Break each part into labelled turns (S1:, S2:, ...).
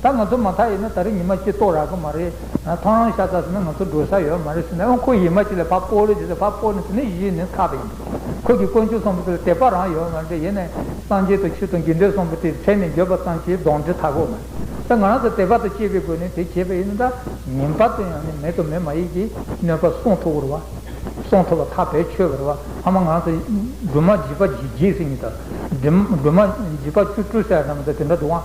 S1: ད་ང་ཚོ་མ་མཐའ་ཡིན་ན་ད་རེས་ཉི་མ་གཅིག་གཏོགས་རག་གི་མ་རེད། ཐང་རང་ཤ་ཚ་ཟེར་ན་ང་ཚོ་འགྲོ་ས་ཡོད་མ་རེད་ཟེར་ན་ཨོ་ཁོ་ཡིད་མ་གཅིག་ལ་བག་པོ་རེད་ཟེར་ན་བག་པོ་ནི་ཟེར་ན་གཞི་ནས་ཚགས་པ་ཡིན་འདུག་ཁོ་གིས་དཀོན་མཆོག་གསུམ་པོ་དེ་ལ་དད་པ་རང་ཡོད་མ་རེད་ཡིན་ནའི་སངས་རྒྱས་དང་ཆོས་དང་དགེ་འདུན་གསུམ་པོ་དེའི་མཚན་ནས་འགྱོད་པ་ཙམ་གྱིས་གདོང་འདྲེ་ཐ་གོ་མ་རེད་ད་ང་རང་ཚོ་དད་པ་དང་བཅས་པའི་སྒོ་ནས་དེ་བྱས་པ་ཡིན་ན་ད་ཉིན་པར་དུ་ཡང་ནི་མེད་དང་མེད་མ་ཡིན་གྱི་གནོད་པ་སྲུང་ཐུབ་རུ་བ། སྲུང་ཐུབ་པ་ཐག་བེད་ཆོད་པ་རུ་བ་ཧ་མ་ང་རང་ཚོ་སྦྲུམ་མ་བྱིས་པ་བརྒྱད་བཟི་གཉིས་དང། སྦྲུམ་མ་བྱིས་པ་བཅུ་དྲུག་བཟས་ཙམ་དང་དེ་འདྲ་འདུག་ཨང།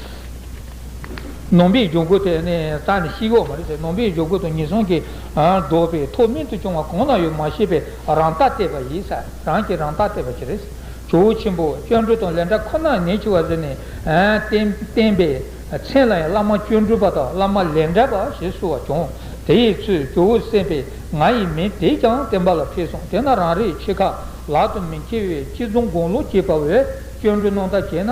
S1: ནོངས་པའི་སྦྱོར་སྒོ་དེ་དག་ནི་ཤི་གཡོག་མ་རེད་ཟེར་ནོངས་པའི་སྦྱོར་སྒོ་དང་ངན་སོང་གི་སྒྲོག་པའི་ཐོག་མེད་དུ་སྐྱོང་བ་གང་ན་ཡོད་མ་ཤེས་པའི་རང་ལྟ་བལྟས་པ་ཡིས་རང་གིས་རང་ལྟ་བལྟས་པ་ཅི་རེད། ཇོ་བོ་ཆེན་པོ་སྤྱོད་འགྲོས་དང་ལས་འདྲ་ཁོ་ནར་ཉེས་ཆེ་བ་ཟེར་ནས་བསྟན་པའི་མཚན་ལ་ཡང་བླ་མ་སྤྱོད་འགྲོས་པ་དང་བླ་མ་ལས་འདྲ་པ་ཞེས་གསོལ་བ་བྱུང་དེ་ཡི་ཚུལ་ཇོ་བོ་སེམས་དཔའི་ང་ཡི་མིང་དེས་ཀྱང་བསྟན་པ་ལ་ཕེབས་སོང་དེས་ན་རང་རེའི་ཆེ་ཁག་ལག་ཏུ་མི་འཁེལ་བའི་སྤྱི་རྫོང་དགུང་ལོ་བརྒྱད་པ་བས་སྤྱོད་འགྲོས་གནང་བརྡ་བྱས་ན།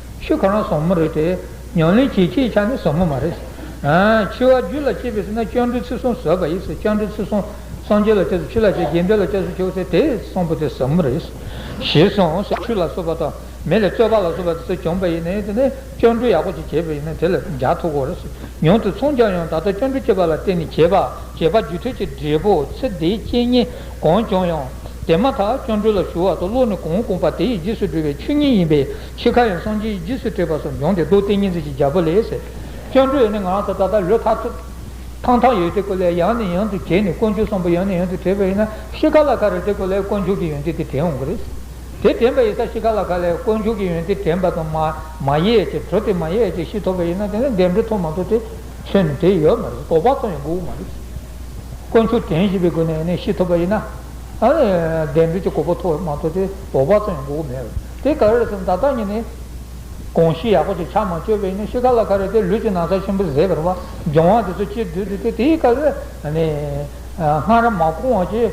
S1: ཆོས་གང་ལ་བཟང་མོ་རེད་དེ། ཉམས་ལེན་བྱེད་ཁྱེད་ཅག་ནི་བཟང་མོ་མ་རེད། འཆི་བ་རྒྱུད་ལ་སྐྱེས་པས་ཟིན་ན་སྤྱང་གྲུང་ཚིག་གསུམ་ཟོས་པ་ཡིན། སྤྱང་གྲུང་ཚིག་གསུམ་སངས་རྒྱས་ལ་སྤྱད་དུ་ཆུ་ལ་སྤྱད་རྒྱལ་འདྲེ་ལ་སྤྱད་སུ་ཆོག་ཚེ་དེ་བཟང་པོ་དེ་ཟབ་མོ་རེད། ཞེས་གསུངས་སོ། ཆུ་ལ་སོགས་པ་དང་མེ་ལས་རྩོལ་བ་ལ་སོགས་པ་དེ་ཚོ་བྱུང་བ་ཡིན་ནའི་དེ་ནས་སྤྱང་གྲུང་ཡག་པོ་ཅིག་བྱས་པ་ཡིན་ན་དེ་ལ་འཇགས་ཐུབ་གོ་རེད། ཉུང་དུ་མཚུངས་ཀྱང་ཡང་ད་ལྟ་སྤྱང་གྲུང་སྐྱེས་པ་ལ་བརྟེན་ནས་བྱས་པ་རྒྱུད་ཐོད་ཀྱི་འབྲས་བུ་ཚེ་འདིའི་སྐྱེས་ཉེས་གང་བྱུང་ཡང། དེ་མ་ཐག་སྤྱང་གྲུང་ལ་ཞུ་བ་དང་བློ་ནི་གང་བསྐུངས་པ་དེ་ཡི་རྗེས་སུ་འགྲོ་བའི་ཆོས་ཉིད་ཡིན་པས། ཤི་ཁ་ཡང་སངས་རྒྱས་ཀྱི་རྗེས་སུ་དྲེགས་པ་སོགས་འབྱུང་སྟེ་མདོ་སྡེ་གཉིས་འཛིན་གྱི་རྒྱལ་པོ་ལས། སྤྱང་གྲུང་ཡོད་ནི་ང་ཚོ་ད་ལྟ་ལོ་ཐ་ཐུབ། ཐང་ཐང་ཡོད་དེ་གོ་ལའི་ཡང་ནས་ཡང་དུ་གྱེས་ནས་དཀོན་མཆོག་གསུམ་པོ་ཡང་ནས་ཡང་དུ་དྲེགས་པ་ཡིན་ན་ཤི་ཁ་ལ་ཁ་རེད་དེ་གོ་ལའི་དཀོན་མཆོག་གི་ཡོན་ཏན་དེ་དྲན་འོང་གི་རེད། དེ་དྲན་པ་ཡིན་ས་ཤི་ཁ་ལ་ཁ་ལའི་དཀོན་མཆོག་གི་ཡོན་ཏན་དྲན་པ་དང་མ་མ་ཡས་ཀྱི་གྲོ་དེ་མ་ཡས་ཀྱི་ཤི་ཐོབ་པ་ཡིན་ན་དེ་ནི་འགལ་འབྲེལ་ཐོག་མ་ཐོག་དེ་ཚོས་ནི་དེ་ཡོད་མ་རེད་གོ་བ་ཐོག་ཡང་གོ་བོ་མ་རེད། དཀོན་མཆོག་དྲན་བཞིན་པའི་སྒོ་ནས་ནས་ཤི་ཐོབ་པ་ཡིན་ན། འགལ་འབྲེལ་གྱི་གོ་བོ་ཐོག་མ་ཐོག་དེ་གོ་བ་ཐོག་ཡང་གོ་བོ་མེད། དེ་ག་རེ་ཟེར་ན་ད་ལྟ་ཉིད་ནས། གོང་བཞིན་ཡག་པོ་ཅིག་ཕྱག་མ་བཅོས་པས་ནི་ཤི་ཁ་ལ་ཁ་རེ་སྟེ་ལུས་ཀྱི་ན་ཚ་ཆེན་པོ་གཟེད་པར་བ་སྦྱང་བ་དེ་ཚོ་སྤྱིར་བསྡུས་འདུག་སྟེ་དེའི་སྐབས་སུ། སྔ་རབས་མ་གོང་བ་ཆེས་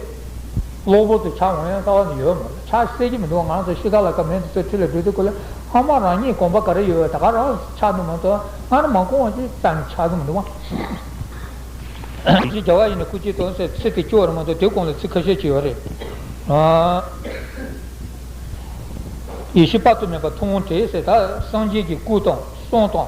S1: གློ་བུར་དུ་ཕྱག་འོང་ཡང་དཀའ་བ་ནི་ཡོད་མ་རེད་ཕྱག་བསད་ཀྱི་མི་འདུག་ང་ཚོ་ཤི་ཁ་ལ་ཁ་མེད་དེ་ཚོ་ཁྲི་ལ་སྦྲུལ་དུ་བཀོད་ལ་ཕ་མ་རང་ཉིད་གོམ་པ་ག་རེ་ཡོད་བས་ད་ག་རང་ཕྱག་འདུག་མ་ཐོག་སྔ་རབས་མ་གོང་བ་ཆེས་ཙམ་ནས་ཕྱག་འདུག་མི་འདུག་བ། ཞེས་བྱ་བ་ཡིས་ནི་སྐུ་གཅིག་དོན་གསལ་ཚིག་གིས་སྐྱོ་བར་མ་ཐོག་དེའི་གོང་ལ་ཚིག་ཁ་ཤས་ཅིག་ཡོད་རེད། ཡེ་ཤེས་དཔག་ཏུ་མེད་པ་ཐུང་ངུ་དེའི་ཚེ་དག་སངས་རྒྱས་ཀྱི་སྐུ་དང་གསུང་དང།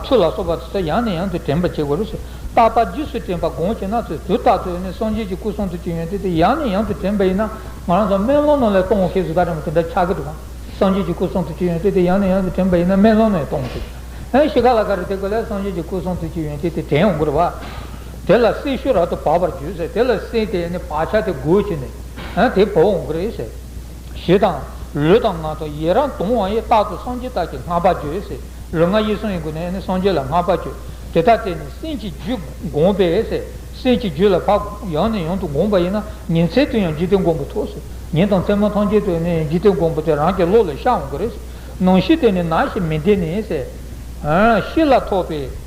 S1: ཆོས་ལ་སོགས་པ་དེ་ཚོ་ཡང་ནས་ཡང་དུ་དྲན་པར་བྱེད་དགོས་རེད། རྟག་པར་རྗེས་སུ་དྲན་པར་དགོངས་བྱེད་ན་ཚེ་དུས་རྟག་ཏུ་ནི་སངས་རྒྱས་ཀྱི་སྐུ་གསུང་ཐུགས་ཀྱི་ཡོན་ཏན་དེ་ཡང་ནས་ཡང་དུ་དྲན་པ་ཡིན་ན། ང་རང་ཚོ་སྨན་སློང་ནང་ལས་སྟོང་ཤིག་ཟིག་ག་དྲན་པ་དེ་འདྲ་ཆགས་ཀྱི་འདུག་གམ། སངས་རྒྱས་ཀྱི་སྐུ་གསུང་ཐུགས་ཀྱི་ཡོན་ཏན་དེ་ཡང་ནས་ཡང་དུ་དྲན་པ་ཡིན་ན་སྨན་སློང་ནས་སྟོང་ཤིག། ཤི་ཁ་ལ་ག་རེ་དེ་ག་ལས་སངས་རྒྱས་ཀྱི་སྐུ་གསུང་ཐུགས་ཀྱི་ཡོན་ཏན་དེ་དྲན་འོང་དགོས་རེད་བ། དེ་ལ་སྲི་ཞུ་ར་ཏུ་བབས་པར་བརྗོད་ཟེར་དེ་ལ་སྲི་དེས་ནི་བག་ཆགས་དེ་རྒོལ་བྱས་ནས། དེ་བོར་འོང་གི་རེད་ཟེར། ཞེས་དང། ལུས་དང་ངག་དང་ཡི་རང་དུང་བ་ཡི་རྟག་ཏུ་སངས་རྒྱས་རྟགས་ཀྱི་སྔགས་པ་བརྗོད་ཟེར། ལུས་ངག་ཡིད་གསུམ་ཡི་སྒོ་ནས་ནི་སངས་རྒྱས་ལ་སྔགས་པ་བརྗོད། དེ་ལྟར་བྱས་ནས་སྲིན་གྱི་རྒྱུད་བསྒོམས་པས་ཟེར། སྲིན་གྱི་རྒྱུད་ལ་བབས་ཡང་ནས་ཡང་དུ་བསྒོམས་པ་ཡིན་ན་ཉིན་མཚན་དུ་ཡང་འཇིག་རྟེན་མགོན་པོ་ཐོབ་ཟེར། ཉིན་དང་མཚན་མོ་ཐམས་ཅད་དུ་ནི་འཇིག་རྟེན་མགོན་པོ་དེ་རང་གི་བློ་ལ་ཤར་འོང་གི་རེད། ནང་ཤི་དེ་ནི་ནང་ཞིག་མི་འདི་ནི། ཤི་ལ་ཐོབ་པའི།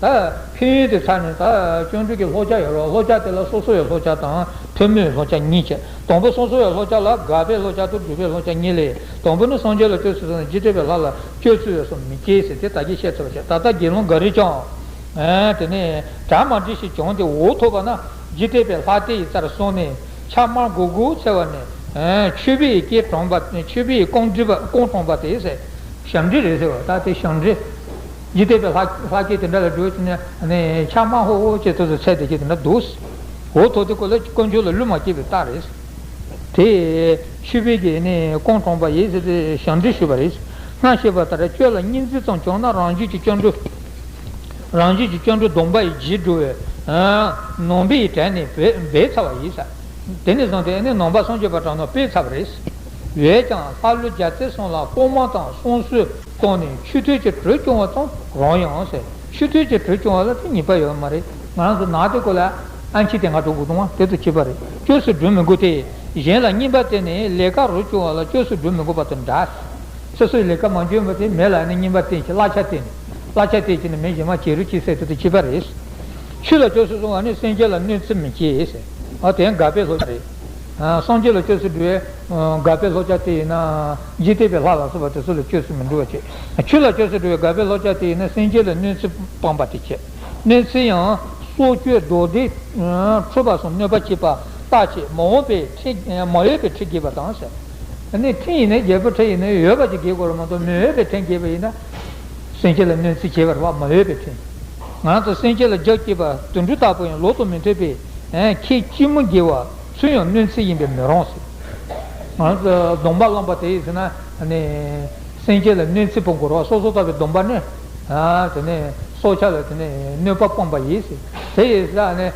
S1: ཕན་ཡོན་གྱི་ཆ་ནས་བརྩོན་འགྲུས་ཀྱི་ལྷོ་ཆ་ཡོད་རུང་ལྷོ་ཆ་དེ་ལ་སོ་སོ་བའི་ལྷོ་ཆ་དང་ཐུན་མོང་ལྷོ་ཆ་གཉིས་བྱེད། དང་པོ་སོ་སོ་བའི་ལྷོ་ཆ་ལ་དགག་པའི་ལྷོ་ཆ་དང་སྒྲུབ་པའི་ལྷོ་ཆ་གཉིས་ལས། དང་པོ་ནི་སངས་རྒྱས་ལ་ལྟོས་ཚུལ་སོགས་ནི་རྗེས་སྤྲོས་པའི་ལྷ་ལ་སྤྱོད་ཚུལ་བས་སོ་མི་སྐྱེའི་ཟེར་དེ་ད་ཀྱིས་བཤད་ཐུབ་པར་བྱ། ད་ལྟ་དགེ་སློང་འགའ་རེས་ཀྱང། དེ་ནས་གྲ་མ་འདྲི་ཞིག་བྱུང་སྟེ་འོ་ཐོབ་པ་ན། རྗེས་སྤྲོས་པའི་ལྷ་དེ་ཡི་རྩར་སོང་ནས། ཕྱག་དམར་མགོ་དགུ་འཚལ་བ་ནས། མཆོད་པས་སྐྱེས་དྲངས་པ་མཆོད་པས་རྐང་དྲངས་པ་དེས། ཞབས་འདྲི་རེ་ཟེར་བ་ད་དེ་ཞབས་འདྲི། ཡིད་གཏད་པའི་ལྷ་སྐད་དེ་འདྲ་ལ་སྒྲོལ་བྱེད་ནི། ཕྱག་དམར་ཧོ་ཧོ་ཅེས་ཐོས་སོ་ཚད་དེ་སྐད་དེ་འདྲ་འདུག། འོ་ཐོག་དེ་ཀོ་ལ་དཀོན་མཆོག་ལ་བསླུ་མ་སྐྱེས་པའི་རྟགས་རེད། དེ་ཤུད་པའི་གེ་ནས་ཀོང་གྲོང་པ་ཡེ་སི་པའི་ཞབས་འདྲེན་ཞུས་པ་རེད། སྔར་བཤད་པ་ལྟར་ཁྱོད་ལ་སྙིང་རྗེ་ཙམ་བྱུང་ན་རང་རྒྱུད་ཀྱི་སྐྱོན་འགྲོ། རང་རྒྱུད་ཀྱི་སྐྱོན་འགྲོ་སྡོམ་པ་ཡི་རྗེས་འགྲོ་བས། ནོངས་པའི་གྲལ་ནས་བས་ཚར་བ་ཡིན། དེ་ནས་བཟུང་སྟེ་ནོངས་པ་སངས་རྒྱས་པ་དྲང་ནོར་སྤེལ་ཚར་བ་རེད། འོད་ཀྱང་ལྷ་ཀླུ་རྒྱ་རྩེ་སོང་ལ་ཀོང་མ་དང་སོང་གསོལ། སྟོང་ནས་ཆུ་ཐོད་ཀྱི་དྲོད་སྐྱོང་བ་དང་རང་ཡང་ཟེར། ཆུ་ཐོད་ཀྱི་དྲོད་སྐྱོང་བ་ལ་དེ་གཉིས་པ་ཡོད་མ་རེད། ང་རང་ཚོ་ནག་དེ་ཀོ་ལ་ཨ་མཆིས་དེ་ང་གྲོ་གུ་དུང་བ་དེ་ཚོ་བྱེད་པ་རེད་སྐྱོ་སུ་འགྲོ་མི་དགོས་ཏེ། གཞན་ལ་གཉིས་པ་དེ་ནི་ལས་ཀ་རོ་སྐྱོ་བ་ལ་སྐྱོ་སུ་འགྲོ་མི་དགོས་པ་དང་འདྲ། སོ་སོའི་ལས་ཀ་མ་འཇོན་པ་དེ་མེ་ལ་ནི་གཉིས་པ་བསྟེན་གྱི་གླ་ཆ་བསྟེན། གླ་ཆ་བསྟེན་གྱི་ནི་མེ་གཞི་མ་བྱེད་རུ་སྐྱི་སེ་དེ་ཚོ་བྱེད་པ་རེད། ཆུ་ལ་སྐྱོ་སུ་སོང་བ་ནི་སེང་གེ་ལ་གནོད་འཚེ་མི་བྱེད། ཨོ་དེ་འགའ་པས་ལྷོད་རེད། སངས་རྒྱས་ལ་སྤྱོད་ཚུལ་འདྲི་བའི། དགའ་བའི་ལྷོ་བྱ་དེ་ཡིན་ན། འཇིག་རྟེན་པའི་ལྷ་ལ་སོགས་པ་དེ་ཚོ་ལ་སྤྱོད་ཚུལ་མི་འདྲི་བ་བྱེད། ཆོས་ལ་སྤྱོད་ཚུལ་འདྲི་བའི་དགའ་བའི་ལྷོ་བྱ་དེ་ཡིན་ན་སེམས་ཅན་ལ་གནོད་འཚེ་སྤངས་པ་དེ་བྱེད། གནོད་འཚེ་ཡང། སྲོག་གཅོད་རྡོ་རྡེག། ཁྲོས་པ་སོགས་གནོད་པ་བྱེད་པ། རྟགས་བྱེད། མ་འོངས་པའི་ཁྲེ། མ་ཡོད་པའི་ཁྲེ་རྒྱས་པ་དང། ནི་ཁྲེ་ཡིན་ན་རྒྱལ་པོའི་ཁྲེ་ཡིན་ན་ཡོད་པ་ཅིག་རྒྱས་དགོས་ར་མ་གཏོགས་མི་འོས་པའི་ཁྲེ་རྒྱས་པ་ཡིན་ན། སེམས་ཅན་ལ་གནོད་འཚེ་བྱེད་པར་བ་མ་འོས་པའི་ཁྲེ། ང་ཚོ་སེམས་ཅན་ལ་རྒྱགས་བསྐྱེད་པ་དུད་འགྲོ་དག་པོ་ཡང་ལོག་ཏུ་མི་འཐོད་པའི། ཁྱེད་ཅི་མོ་རྒྱལ་བ། ཚུལ་ཡང་གནོད་འཚེ་ཡིན་པས་མི་རུང། སྡོམ་པ་བླངས་པ་དེས་ཟེར་ན་སེམས་ཅན་ལ་གནོད་འཚེ་བ་འགོར་བ་སོ་སོར་བལྟ་བའི་སྡོམ་པ་ནི། སྲོག་ཆགས་ལ་གནོད་པ་སྤངས་པ་ཡིན། དེ་ཡི་ས་ནི་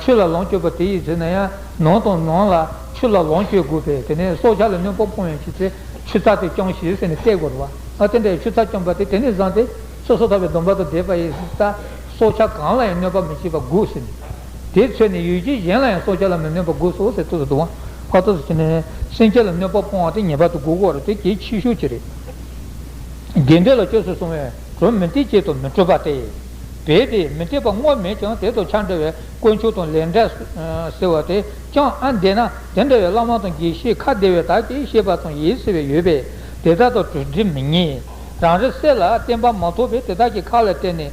S1: ཆུ་ལ་ལོངས་སྤྱོད་པ་དེ་ཡིས་ཟེར་ན་ཡང་ནོར་དང་ནོར་ལ་ཆུ་ལ་ལོངས་སྤྱོད་དགོས་པས་དེ་ནས་སྲོག་ཆགས་ལ་གནོད་པ་སྤོང་བའི་ཕྱིར་ཚེ་ཆུ་ཚགས་དེ་བསྐྱང་ཞིག་ཟེར་ནས་གཏད་དགོས་པ། དེ་འདྲའི་ཆུ་ཚགས་བསྐྱངས་པ་དེ་དེ་ནས་བཟང་སྟེ་སོ་སོར་བལྟ་བའི་སྡོམ་པ་དང་ལྡན་པ་ཡིས་ས་སྲོག་ཆགས་གང་ལ་ཡང་གནོད་པ་མི་བྱེད་པར་དགོས་ཟེར། དེའི་ཚེ་ནི་ཡུལ་གྱི་གཞན་ལ་ཡང་སྲོག་ཆགས་ལ་མི་གནོད་པར་དགུག་གསོ་ཟས་སྟོབས་སུ་བཏུང་བ། བར་དོ་སུ་བྱེད་ན། སེམས་ཅན་ལ་གནོད་པ་སྤོང་བ་སྟེ་ངེས་པར་དུ་དགུག་གོ། དེ་གྱིས་ཕྱིས་ཞུགས་ཀྱི་རེ། དགེ་འབྲས་ལ་སྤྱོད་སུ་སོང་བས་གྲོ་མི་འཐིག་ཅེས་དོ་མི་སྤྲོད་པ་སྟེ། བས་ཏེ་མི་འཐིག་པ་བསྔོ་མེད་ཀྱང་དེ་དང་ཆ་འདྲ་བའི་དཀོན་མཆོག་དང་ལས་འབྲས་སུ་ཟེར་བ་དེ་ཅང་ཨ་འདས་ན་དེ་འདྲ་བའི་བླ་མ་དང་དགེ་བཤེས་ཁ་བདེ་བའི་དག་གིས་ཤེས་པ་དང་ཡིད་བསྲེ་བའི་ཡོད་པས་དེ་དག་དང་གྲོས་འདྲི་མི་ཉན། རང་རེ་སྲས་ལ་བསྟན་པ་མ་ཐོབ་པས་དེ་དག་གི་ཁ་ལ་བལྟས་ནས་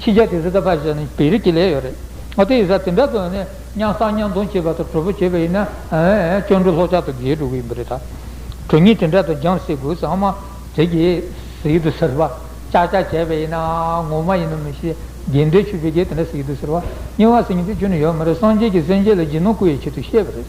S1: ཕྱི་རྒྱལ་གྱི་རི་དྭགས་ཕལ་ཆེར་ནི་བེ་རི་ཀི་ལས་ཡོད་རེད། ཨོ་དེ་ཡི་ས་དེ་འདྲ་དུ་ནི་གཉང་བསགས་གཉང་རྡུང་བྱེད་པ་དང་གྲོ་བོ་བྱེད་པ་ཡིན་ན། ཅོ་འདྲུ་ལྷོག་ཆག་ཏུ་འགྱེལ་འགྲོ་གི་ཡིན་པ་རེད་ད། གྲོ་སྙིང་དེ་འདྲ་དུ་རྒྱང་བསྲེགས་དགོས་ཙང་མ་རེད་ཀི། ཟེར་དུ་ཟེར་བ། ཅག་ཅག་བྱས་པ་ཡིན་ན་ངོ་མ་ཡིན་ནམ་མི་ཤེས། རྒྱལ་འདོད་ཆུ་བེ་རྒྱལ་དེ་འདྲ་ཟེར་དུ་ཟེར་བ། རྙིང་བ་ཟེར་གྱིན་དུ་ཆུ་ནི་ཡོད་མ་རེད་སངས་རྒྱས་ཀྱི་སེམས་ཅན་ལ་སྦྱིན་ནོ་སྐུ་ཡི་ཆེད་དུ་བཤད་པ་རེད།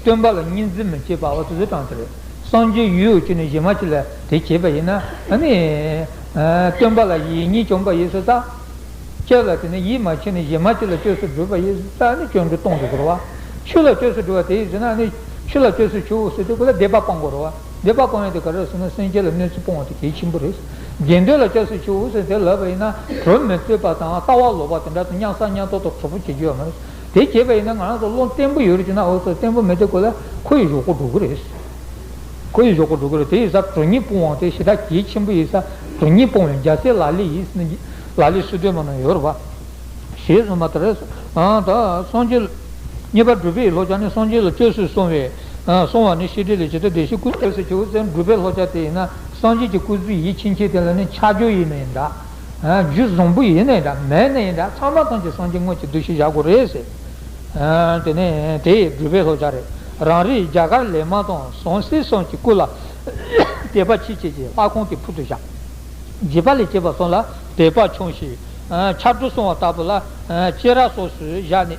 S1: སྟོན་པ་ལ་སྙིང་རྗེ་མི་བྱེད་པ་བ་ཚོས་དྲངས་ཟེར། སངས་རྒྱས་ཡུལ་འོད་ཀྱིས་ནི་གཞི་མ་ཅི་ལ་དེ་བྱས་པ་ཡིན། སྟོན་པ་ལ་ཡིད་གཉིས་བཅོམ་པ་ཡེ་སྲོག་རྩ། ལྕེ་ལ་དེ་ནི་ཡིད་མ་ཆེས་ནི་གཞི་མ་ཅི་ལ་བཅོས་སུ་བསྒྲུབ་པ་ཡེ་སྲོག་རྩ་ནི་སྐྱོན་དྲུག་སྟོང་དུ་ཟེར་བ། ཆུ་ལ་བཅོས་སུ་བསྒྲུབ་བ་དེ་ཡིས་ཟེར་ན་ཆུ་ལ་བཅོས་སུ་ཆུ་བོ་སོལ་ཏེ་ཀུན་ལ་བདེ་བ་སྤང་དགོས་རོ། བདེ་བ་སྤང་ཡུལ་དེ་ག་རེ་ཟེར་ན་སེམས་ཅན་ལ་གནོད་འཚེ་སྤོང་བ་དེ་གལ་ཆེན་པོ་རེད། དགེ་འདུན་ལ་བཅོས་སུ་ཆུ་བོ་སོལ་ཏེ་ལབ་པ་ཡིན་ན་གྲོ་མི་རྩོད་པ་དང་ལྟ་བ་ལོག་པ་དེ་འདྲ་དང་གཉའ་ས་གཉའ་ཐོག་ཏུ་གྲོགས་པོ་བྱེད་རྒྱུ་ཡོད་མ་རེད། དེ་བྱས་པ་ཡིན་ན་ང་རང་ཚོ་བློ་བརྟན་པོ་ཡོད་རེད་ཅེ་ན་འོ་ཚོད་བརྟན་པོ་མེད་དེ་ཁོ་ལ་ཁོ་ཡི་ཞོག་གོ་འགྲོ་གི་རེད། ཁོ་ཡི་ཞོག་གོ་འགྲོ་གི་རེད་དེ་ཡི་ས་གྲོ་ཉིད་སྤུངས་དབང་དེ་ཞེ་དྲག་གལ་ཆེན་པོ་ཡི་ས་གྲོ་ཉིད་སྤུངས་བའི་རྒྱ་སེ་ལ་ལི་ཡིས་ལ་ལི་སུ་སྡོད་མ་ན་ཡོད་རེད་པ། ཞེས་གསུངས་པ་དེར་སངས་རྒྱས། རྙེད་པ་སྒྲུབ་པའི་ལྷོ་ཕྱག་ནི་སངས་རྒྱས་ལ་སྤྱོད་སྲོལ་སྲུང་བའི། སྲུང་བ་ནི་ཤེས་འབྲས་ལས་ཇི་ལྟར་བདེ་གཤེགས་སྐུ། སྐྱབས་སུ་མཆི་བོ་བཙན་སྒྲུབ་པའི་ལྷོ་ཕྱག་དེ་ཡིན་ན་སངས་རྒྱས་ཀྱི་སྐུ་གཟུགས་ཡིད་ཕྱིན་ཆད་དེ་ལ་ནི་ཕྱག་རྒྱ་ཡེ་ནས་འདའ། རྒྱུད་བཟང་པོ་ཡིན་ནའི་འདྲ་མེད་ནའི་འདྲ་ཚང་མ་ཐམས་ཅད་སངས་རྒྱས་དངོས་ཀྱི་གདུལ་བྱའི་བཞག་གོ་རེད། དེ་ནས་དེས་སྦྲུལ་པའི་ལྷོ་བྱ་རེ་རང་རིགས་རྒྱ་གར་ལས་མ་ཏོང་ཟོང་སྲིད་གསུམ་གྱི་སྐུ་ལ། དད་པ་ཆེ་བྱེད་ཀྱི་ལྷ་ཁང་གི་ཕུག་ཏུ་བཞག། བགྱིས་པ་ལས་བྱེད་པ་སོགས་ལ་དད་པ་ཆུང་ཞིང། ཕྱག་དྲུག་བསྲུང་བ་ལྟ་བུ་ལ། སྐྱེས་ར་སོགས་སུ་བཞག་ནས།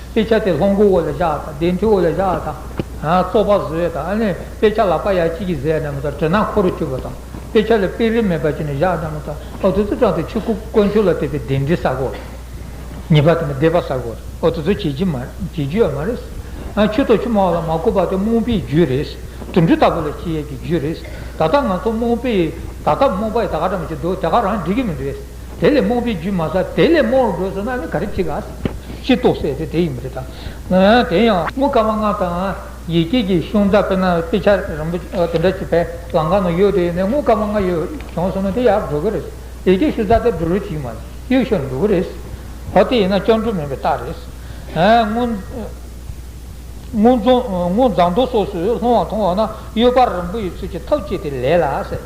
S1: དཔེ་ཆ་དེ་ལྷོ་མགོ་བོ་ལ་བཞག་དང་བདེ་མཐུ་བོ་ལ་བཞག་དང། བཙོག་པ་བཟོས་དང་ནི་དཔེ་ཆ་ལག་པ་ཡ་གཅིག་གིས་བཟས་ནམ་ཐང་དྲི་ནག་ཁོ་རུ་གྱུར་པ་དང། དཔེ་ཆ་ལ་དཔེ་རིས་མེད་པ་བྱས་ནས་བཞག་ནམ་ཐང་ཨོ་ཐུ་ཐུ་སྐྲངས་ཏེ་ཆུ་ཁུག་དཀོན་མཆོག་ལ་དད་པའི་གདན་འདྲེན་ཟ་གོ། ཉེས་པ་དེ་མི་བདེ་བ་ཟ་གོ། ཨོ་ཐུ་ཐུ་བྱེད་རྒྱུ་ཡ་མ་རེད། ཆུ་ཐོག་ཆུ་དམའ་བ་ལ་མ་བསྐོར་བ་དེ་རྨོངས་པའི་རྒྱུ་རེད། དུད་འགྲོ་ལྟ་བུ་ལ་ཁྱི་ཡལ་གྱི་རྒྱུ་རེད། ད་ལྟ་ང་ཚོ་རྨོངས་པས་ད་ལྟ་རྨོངས་པ་ཡི་ད་ག་འདྲ་མོ་བྱེད་འདོད་དེ་ག་རང་འགྲིག་གི་མི་འདུག། དེ་ལས་རྨོངས་པའི་རྒྱུ་མ་ཟ། དེ་ལས་རྨོངས་རུ་འགྲོས་སོ་ན་ནི་ག་རེ་བྱེད་ག། ཤེས་རྟོགས་སད་དེ་དེ་ཡིན་མི་དེ་དང། དེ་ཡང། དངུལ་དཀར་དམར་ནག་དང། ཡེ་སྐྱིད་ཀྱི་གཞུང་དག་པས་ན་དཔེ་ཆ་རིན་པོ་ཆེ་དེ་འདྲ་ཅིག་བལ་ལང་ཁང་ན་ཡོད་དེ་ཡིན་ནའི་དངུལ་དཀར་དམར་ནག་ཡོད་བྱུང་སོང་ན་དེ་ཡག་འགྲོ་གི་རེད། ཡེ་སྐྱིད་ཤུལ་རྫ་དེ་འགྲོ་རུ་ཅིག་མ་གཡུག་ཤོག་འགྲོ་གི་རེད། ཧོ་དེ་ཡིན་ན་སྐྱོན་འགྲོ་མིན་པའི་རྟགས་རེད། དངུལ་རྫང་རྡོ་སོགས་སུ་ལྷུང་བ་མཐོང་བ་ན་གཡོད་པ་རིན་པོ་ཡི་ཚུལ་གྱིས་ཐབས་བྱས་ཏེ་ལས་ལ་སད།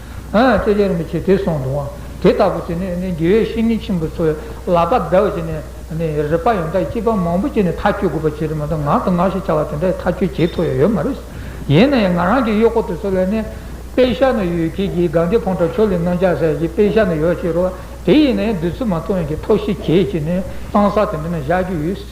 S1: ལྕེ་སྦྱར་མི་བྱེད་དེ་སོང་དུའང་དེ་ལྟ་བུ་དེ་ནས་དགེ་བའི་བཤེས་གཉེན་ཆེན་པོ་ཚོ་ལག་པ་བརྡལ་བ་བྱས་ནས་རིག་པ་ཡོངས་དག་སྐྱེས་པ་མང་པོ་བྱས་ནས་ཐག་གཅོད་དགོས་པ་བྱས་རེད་མ་གཏོགས་ངག་དང་ངག་ཞེས་བྱ་བ་དེ་འདྲ་ཐག་གཅོད་བྱེད་ཐུབ་ཡ་ཡོད་མ་རེད། ཡིན་ན་ཡང་ང་རང་གི་གཡོག་པོ་དེ་ཚོ་ལ་ནི། དཔེ་ཤག་ན་ཡོད་ཁྱེད་ཀྱིས་སྒང་དེ་ཕོང་ཁྲ་ཆོས་ལས་སྣོན་རྒྱག་ཟེར་གྱིས་དཔེ་ཤག་ན་ཡོད་ཅེས་རོགས། དེ་ཡིན་ན་ཡང་བདུད་རྩི་མ་འཐུང་ཡང་ཁྱེད་ཐོག་ཤི་གྱིས་ཅེས་ནས་གཙང་ས་དེ་འདྲ་ན་བཞག་རྒྱུ་ཡོད།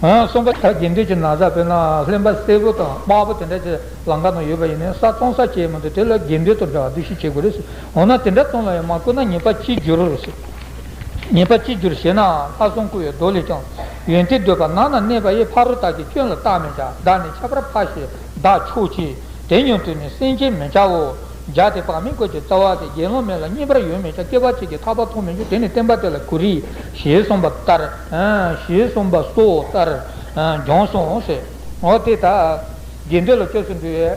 S1: གསུམ་པ། ད་གིན་དུས་ཀྱི་ན་བཟའ་དཔེར་ན་ལྷན་པ་སེར་པོ་དང་དཔའ་བོ་དེ་འདྲ་ཆེ་ལང་ཀ་ན་ཡོད་པ་ཡིན་ནའི་ས་བཙོང་ས་བྱེད་མི་འདུག་དེ་ལ་དགེ་འདུན་དང་འདྲ་བ་འདུ་ཤེས་བྱེད་དགོས་རེད། འོ་ན་དེ་འདྲ་བཙོང་ལ་ཡང་མ་བསྐུར་ན་ཉེས་པ་ཅི་འགྱུར། ཉེས་པ་ཅི་འགྱུར་ཞེ་ན་ལྷ་སྲུང་བསྐུར་བའི་མདོ་ལས་ཀྱང། ཡོན་ཏན་འདོད་པ་ནང་ན་གནས་པ་ཡི་ཕ་རོལ་དག་གི་སྐྱོན་ལ་བརྟགས་ནས་ཀྱང་བདག་ནི་ཁྱད་པར་འཕགས་ཞེས་བདག་ཆོས་ཀྱི་དེ་ཉོན་དུ་ནི་སེམས་ཅན་མི་བྱའོ། འཇའ་དེ་བག་མེད་བཀོད་ཀྱི་རྩ་བ་དེ་དགེ་སློང་མེད་ལ་རྙེད་པར་ཡོད་མེད་ཀྱང་སྐྱེ་བ་གཅིག་གིས་ཐར་པ་མཐོང་མི་འགྱུར་དེ་ནི་བསྟན་པ་དེ་ལ་གུ་རེ་ཞེས་གསུངས་པ་ལྟར། ཞེས་གསུངས་པ་སོགས་ལྟར་སྦྱོང་གསུངས་སོ། འོ་དེ་དག་དགེ་འདུན་ལ་སྐྱབས་སུ་འགྲོའི།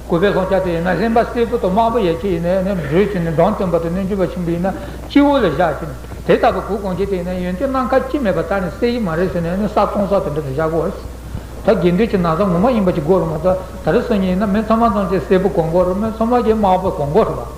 S1: གུས་པས་ལྷོ་ཕྱག་དེ་ཡིན་ན་ལྷན་པ་སེར་པོ་དང་དམར་པོ་ཡན་ཆད་ཡིན་ན་ནི་བགྲོད་བྱེད་ནི་འབྲོང་སྟོན་པ་དང་གནོད་སྦྱིན་པ་ཆེན་པོ་ཡིན་ན་སྤྱི་བོ་ལ་བཞག་ཅིང་དེ་ལྟ་བུའི་གུར་གང་ཁྱེར་དེ་ཡིན་ན་ཡོན་ཏན་སྣ་མཁར་དཀྱིལ་མེད་པ་དག་ནི་གསེར་གྱི་མ་རེག་ཟེར་ནས་ནི་ས་སྟོང་སོགས་དེ་འདྲ་དུ་བཞག་གོ། ད་དགེ་འདུན་གྱི་ན་བཟའ་ངོ་མ་ཡིན་པ་གཅིག་གོ་རུ་མ་གཏོགས་ད་རེས་སོ་གཉིས་ཡིན་ན་མི་ཚང་མ་ཚང་གཅིག་སེར་པོ་གང་གོ་རུ་མི་ཚང་མ་གཅིག་དམར་པོ་གང་གོ་རུ་བ།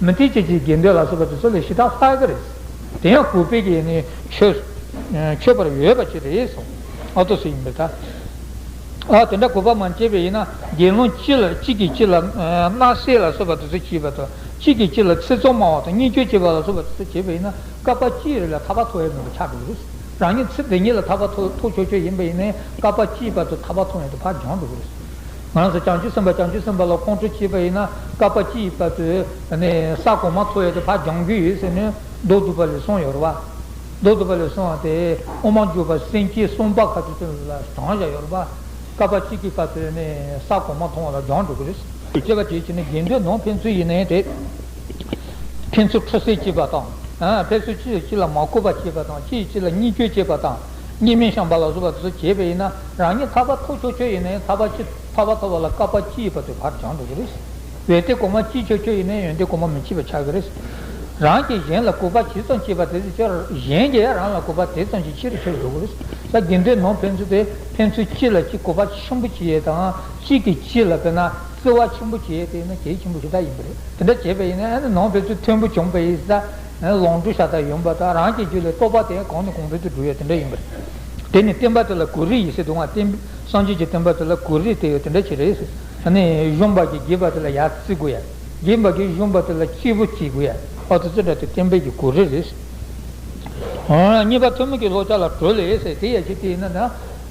S1: མི་མཐུན་སྐྱེ་འཆིའི་དགེ་འདུན་ལ་སོགས་པ་དེ་ཚོ་ལས་ཞི་དྲག་ལྷག་གི་རེད། དེ་ཡང་གུས་པས་ཀྱི་ནི་ཆོས་པར་འོས་པ་ཅི་རེད་སོང། ཨ་ཏོ་སུ་ཡིན་པའི་ཐ། ཨ་དེ་འདྲ་གུས་པ་མ་བྱས་པའི་ཡིན་ན་དགེ་སློང་གཅིག་ལ་གཅིག་གིས་གཅིག་ལ་དམག་བསད་ལ་སོགས་པ་དེ་ཚོ་བྱས་པ་དང་གཅིག་གིས་གཅིག་ལ་ཚེ་བཙོང་སྨྲ་བ་དང་གཉེན་སྐྱོན་བྱེད་པ་ལ་སོགས་པ་དེ་ཚོ་བྱས་པ་ཡིན་ན་སྐལ་པ་སྐྱིད་རེད་ལ་ཐར་པ་ཐོབ་ཡ་མེད་པ་ཆགས་འགྲོ་གི་རེད། རང་ཉིད་ཚེ་འདི་ཉིད་ལ་ཐར་པ་ཐོབ་ཆོག་ཆོག་ཡིན་པ་ཡིན་ན་སྐལ་པ་སྐྱིད་པ་དང་ཐར་པ་ཐོབ་ཡོང་དུ་ཕར་འགྱངས་འགྲོ་གི་རེད། ང་ཚོས་བྱང་ཆུབ་སེམས་དཔའ་བྱང་ཆུབ་སེམས་དཔའ་ལ་ཁོང་ཁྲོ་བྱེད་པ་ཡིན་ན་སྐལ་པ་ཅི་ཡི་བར་དུ་ས་གོང་མ་འཚོ་ཡས་ཏེ་ཕ་རྒྱང་རྒྱུད་ཡོད་ཟེར་ནས་མདོ་བསྡུ་བ་ལས་གསུངས་ཡོད་རེད་པ། མདོ་བསྡུ་བ་ལས་གསུངས་བ་དེ་དབུ་མ་འཇུག་པ་སེམས་བསྐྱེད་གསུམ་པ་ཁ་ཅིག་ཏུ་ལ་བགྲང་བཞག་ཡོད་རེད་པ། སྐལ་པ་གཅིག་གི་བར་དུ་ས་གོང་མ་མཐོང་བ་ལ་སྦྱང་འགྲོ་གི་རེད། ཅེས་པ་དེའི་ཕྱིར་ན་དགེ་འདུན་ནང་ཕན་ཚུན་ཡིན་ནའི་དེ། ཕན་ཚུན་ཁྲོ་སེ་བྱེད་པ་དང། ཕན་ཚུན་གཅིག་གིས་གཅིག་ལ་མ་བསྐུར་བ་བྱེད་པ་དང་གཅིག་གིས་གཅིག་ལ་གཉིས་སྐྱོན་བྱེད་པ་དང། གཉིས་མེད་ཤངས་པ་ལ་སོགས་པ་དེ་ཚོ་བྱས་པས་ཡིན་ན་རང་ཉིད་ཐར་པ་ཐོབ་ཆོག་ཆོག་ཡིན་ན་ཡང་ཐར་པ་ཅི་ཐར་པ་ཐོབ་པ་ལ་ཀ་པ་ཅི་ཡིས་པ་དེ་བར་སྦྱང་འགྲོ་གི་རེད། ཡོན་ཏན་གོང་མ་བསྐྱིས་ཆོག་ཆོག་ཡིན་ན་ཡོན་ཏན་གོང་མ་མི་བསྐྱིས་པ་ཆགས་ཀྱི་རེད། རང་གིས་གཞན་ལ་གུས་པ་ཇི་ཙམ་བསྐྱེད་པ་དེ་ཙམ་གྱིས་གཞན་གྱིས་ཡང་རང་ལ་གུས་པ་དེ་ཙམ་གྱིས་ཆེ་རུ་ཆེ་རུ་འགྲོ་གི་རེད། ས་དགེ་འདུན་ནང་ཕན་ཚུན་དེ་ཕན་ཚུན་གཅིག་ལ་གཅིག་གུས་པ་ཆེན་པོ་བྱེད་ཡས་དང་གཅིག་གིས་གཅིག་ལ་དཔེར་ན་བརྩེ་བ་ཆེན་པོ་བྱེད་ཡས་དེ་ཡིན་ན་གལ་ཆེན་པོ་དེ་དག་ཡིན་པ་རེད་དེ་འདྲ་བྱས་པས་ཡིན་ན་ནང་ཕན་ཚུན་མཐོན་པོ་བྱུང་བས་ས་ལོངས་སྤྱོད་ཤ་སྟག་ཡིན་པ་དང་རང་གི་རྒྱུད་ལས་རྟོག་པ་དེ་གང་ནས་གང་འཕེལ་དུ་འགྲོ་ཡོད་དེ་འདྲ་ཡིན་པ་རེད། དེ་ནི་བསྟན་པ་དེ་ལ་གུ་རུའི་ཡེ་ཤེས་དུའང་བསྟན། སངས་རྒྱས་ཀྱི་བསྟན་པ་དེ་ལ་གུ་རུའི་དེ་ཡོད་དེ་འདྲ་ཞིག་རེད། གཞོན་པ་གྱིས་རྒས་པ་དེ་ལ་ཡར་བརྩི་དགོས་ཡ། རྒས་པ་གྱིས་གཞོན་པ་དེ་ལ་སྐྱིད་པོ་སྐྱེ་དགོས་ཡ། ཨོ་ཙི་ཙི་འདྲ་དེ་བསྟན་པའི་གྱི་གུ་རུ་རེད། གཉིས་པ་ཐུན་མོང་གི་ལྷོ་ཕྱག་ལ་གྲོལ་ལས། དེ་ཡ་ཞིག་དེ་ཡིན་ན།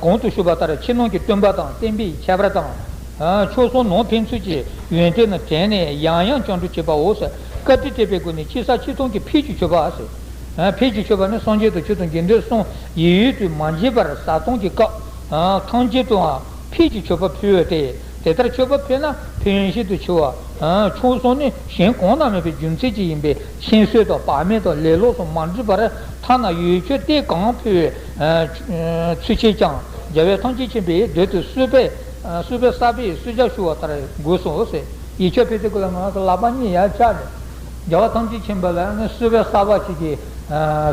S1: གོང་དུ་ཞུས་པ་ལྟར་ཕྱི་ནང་གི་སྟོན་པ་དང་བསྟན་པའི་ཁྱད་པར་དང། ཕྱོགས་གསུམ་ནང་ཕན་ཚུན་གྱི་ཡོན་ཏན་ལ་དྲན་ནས་ཡང་ཡང་བཅར་འདྲི་བྱེད་པའོ། བཀའ་དྲིན་སྤྲད་པའི་སྒོ་ནས་ཕྱི་ས་ཕྱི་ཚུལ་གྱི་ཕུལ་གྱི་མཆོད་པ། ཕུལ་གྱི་མཆོད་པ་ནི་སངས་རྒྱས་དང་ཆོས་དང་དགེ་འདུན་གསུམ་ཡིད་ཡུལ་དུ་མ་འབྱེད་པར་བཟའ་བཏུང་གི་སྐབས་ཐང་ཆེན་དུའང་ཕུལ་གྱི་མཆོད་པ་ཕུལ་བས་ཏེ། དེ་ལྟར་མཆོད་པ་ཕུལ་ན་ཕན་བཞིན་དུ་འཆི་བ། ཕྱོགས་གསུམ་ནི་གཞན་གང་ན་མེད་པའི་རྒྱུ་མཚན་གྱིས་ཡིན་པས་ཤིང་གསོས་ཐོག་བག་མེད་དུ་ལས་ལོགས་སུ་མ་འགྲུལ་པར་ཐ་ན་ཡུལ་ཆོས་གཏེར་གང་ཕུལ་བའི་ཚུལ་བྱས་ཀྱང་རྒྱལ་བའི་ཐང་ཆེན་ཆེན་པོའི་མདུན་དུ་གསོལ་བས་གསོལ་བས་གསར་པའི་གསོལ་ཇག་ཞུ་བ་ལྟར་དགོས་སོ། ཡིད་ཆེས་ཕལ་ཆེར་ཀུན་ལ་ངང་སོགས་ལག་པ་གཉིས་ཡར་བཀྱགས་ནས། རྒྱལ་བ་ཐང་ཆེན་ཆེན་པོ་ལ་གསོལ་བས་གསར་པ་ཞིག་གིས་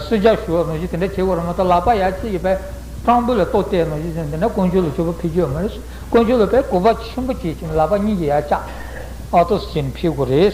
S1: གསོལ་ཇག་ཞུ་བ་ནོར་བཞིན་དེ་འདྲ་བྱེད་དགོས་ར་མ་ཏོག་ལག་པ་ཡར་ཕྱེས་ཡོད་པས་སྤྲང་པོ་ལ་ལྟོས་བལྟས་ནོར་བཞིན་དེ་འདྲ་དཀོན་མཆོག་ལ་ཆོས་པ་ཕུལ་རྒྱུ་མ་རེད། དཀོན་མཆོག་ལ་བས་གོ་བ་ཆེན་པོ་བྱེད་ཅིང་ལག་པ་གཉིས་ཀྱིས་ཡར་བཀྱགས། ཨ་ཏོ་ཟེར་ནས་ཕེབས་དགོས་རེད།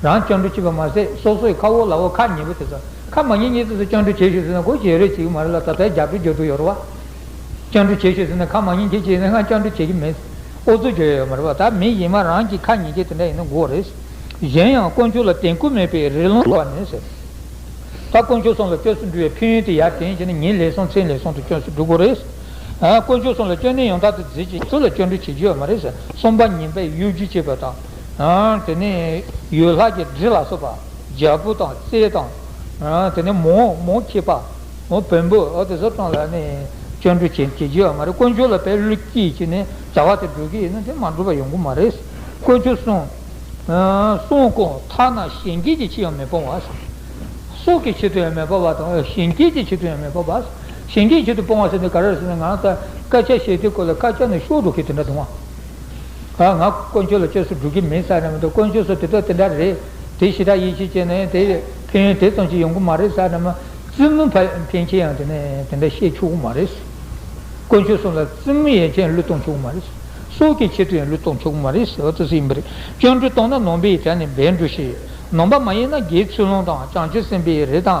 S1: རང་སྐྱོན་འགྲོ་ཆེས་པ་མ་ཟད་སོ་སོ་ཡི་ཁ་འོག་ལག་འོག་ཁ་ཉེ་པོ་དེ་ཚོ་ཁ་མ་ཉེ་ཉེ་དེ་ཚོ་སྐྱོན་འགྲོ་བྱེད་ཤོས་ཟེར་ན་གོ་བྱེད་རེ་བྱེད་ཀྱི་མ་རེད་ལ་ད་ལྟའི་རྒྱབ་སྐྱོར་རྒྱོ་དུ་ཡོད་རེད་བ། སྐྱོན་འགྲོ་བྱེད་ཤོས་ཟེར་ན་ཁ་མ་ཉེ་མཁན་བྱས་ནས་སྔར་སྐྱོན་འགྲོ་བྱེད་ཀྱི་མེད། ཨོ་ཚོད་རྒྱོ་ཡོད་ཡོད་མ་རེད་བ་ད་མི་གཞན་མ་རང་གྱི་ཁ་ཉེ་མཁན་དེ་འདྲ་ཡིན་ན་གོ་རེད། གཞན་ཡང་དཀོན་མཆོག་ལ་དད་གུས་མེད་པའི་རི་ལུང་བ་ནི་ཟེར། ད་དཀོན་མཆོག་སོང་ལ་སྐྱོ་སུ་འགྲུ་བའི་ཕན་ཡོན་དེ་ཡར་དེན་བྱས་ན་ཉིན་ལེགས་སོང་མཚན་ལེགས་སོང་དུ་སྐྱོན་སུ་འགྲུ་གོ་རེད། དཀོན་མཆོག་སོང་ལ་སྐྱོན་ནི་ཡང་དག་དུ་འཛིན་ཅིང་ཁྱོད་ལ་སྐྱོན་འགྲོ་བྱེད་ཀྱི་ཡོད་མ་རེད་ཟེར་གསུམ་པ་ཉིན་པས་གཡོ་སྒྱུ་བྱེད་པ་དང། དེ་ནས་ཡོས་ལྷ་གྱི་དྲི་ལ་སོགས་པ། རྒྱལ་པོ་དང་རྩེ་དང། དེ་ནས་མོ། མོ་མཁས་པ། མོ་བོན་པོ། དེ་སོགས་དང་ལ་ནས། སྤྱོད་འགྲོ་བྱེད་ཀྱི་བ་མ་རེད་དཀོན་མཆོག་ལ་བས་བློ་སྐྱེད་ཀྱི་ནས་བྱ་བ་དེ་འགྲོ་གི་ཡིན་ན་དེ་མ་འགྲོ་བ་ཡོང་གི་མ་རེད། དཀོན་མཆོག་གསུང། གསུང་གོ་མཐའ་ན་གཞན་སྐྱེས་ཀྱི་ཕྱིར་ཡང་མི་སྤོང་བ། སྲོག་གི་ཕྱིར་དུ་ཡང་མི་སྤོང་བ་དང། གཞན་སྐྱེས་ཀྱི་ཕྱིར་དུ་ཡང་མི་སྤོང་བ། གཞན་སྐྱེས་ཀྱི་ཕྱིར་དུ་སྤོང་བ་ཟེར་ནི་ག་རེ་ཟེར་ན་ང་ལྟར་སྐད་ཆ་བཤད་དུས་གོ་ལ་སྐད་ཆ་ནི་ཤོར་འགྲོ་གི་དེ་འདྲ་དུང་བ། ཨ། ང་དཀོན་མཆོག་ལ་བཅོས་སུ་འགྲོ་གི་མིན་ས་རེད་མ་གཏོགས་དཀོན་མཆོག་སོགས་དེ་དག་དེ་འདྲ་རེད། དེ་ཞེ་དྲག་ཡིད་ཆེས་བྱས་ནས་དེ་ཕན་ཡོན་དེ་ཙམ་ཞིག་ཡོང་གི་མ་རེད་ས་རེད་མ། བཙུན་མོ་ཕན་ཆེན་ཡང་དེ་ནས་དེ་འདྲ་བཤད་ཆོག་གི་མ་རེད། དཀོན་མཆོག་གསུམ་ལ་བཙུན་མོ་ཡན་ཆད་བློས་གཏོང་ཆོག་གི་མ་རེད། སྲོག་གི་ཆེད་དུ་ཡང་བློས་གཏོང་ཆོག་གི་མ་རེད་ཟེར་བ་ལྟ་ཚུལ་ཡིན་པ་རེད། སྤྱང་གྲུང་གཏོང་ན་ནོངས་པའི་ཡི་དྲ་ནས་འབད་འགྲོ་ཞིག། ནོངས་པ་མ་ཡིན་ན་རྒྱའི་ཚུལ་སློང་དང་བྱང་ཆུབ་སེམས་དཔའི་རེ་དང་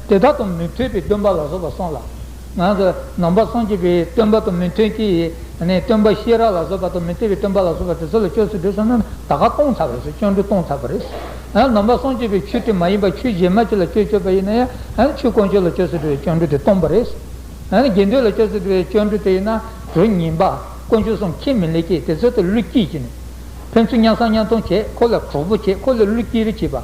S1: དེ་དག་དང་མི་མཐུན་པའི་སྟོན་པ་ལ་སོགས་པ་གསུངས་ལ། ནང་པ་སངས་རྒྱས་པའི་སྟོན་པ་དང་མི་མཐུན་གྱི། སྟོན་པ་ཤེས་རབ་ལ་སོགས་པ་དང་མི་མཐུན་པའི་སྟོན་པ་ལ་སོགས་པ་དེ་ཚོ་ལ་ཅོག་ཙེ་བསྒྲུབས་སོང་ན་ད་ག་སྟོང་ཚར་བ་རེད་ཅོག་འབྲུ་སྟོང་ཚར་བ་རེད། ནང་པ་སངས་རྒྱས་པའི་ཆོས་དེ་མ་ཡིན་པ་ཆོས་གཞན་མ་ཅིག་ལ་ཅོག་ཅོག་པ་ཡིན་ན། ཆོས་དཀོན་མཆོག་ལ་ཅོག་ཙེ་བསྒྲུབས་པའི་ཅོག་འབྲུ་དེ་སྟོང་པ་རེད། དགེ་འདུན་ལ་ཅོག་ཙེ་བསྒྲུབས་པའི་ཅོག་འབྲུ་དེ་ཡིན་ན་གྲུ་ཉིས་པ། དཀོན་མཆོག་གསུམ་ཁས་མི་ལེན་གྱི་དེ་ཚོ་དེ་བསླུ་བསྐྱེད་བྱས་ནས། ཕན་ཚུན་གཉའ་གསང་གཉའ་མཐོང་བྱས་ཁོ་ལ་གྲོགས་པོ་བྱས་ཁོ་ལ་བསླུ་བསྐྱེད་རེ་བྱས་པ།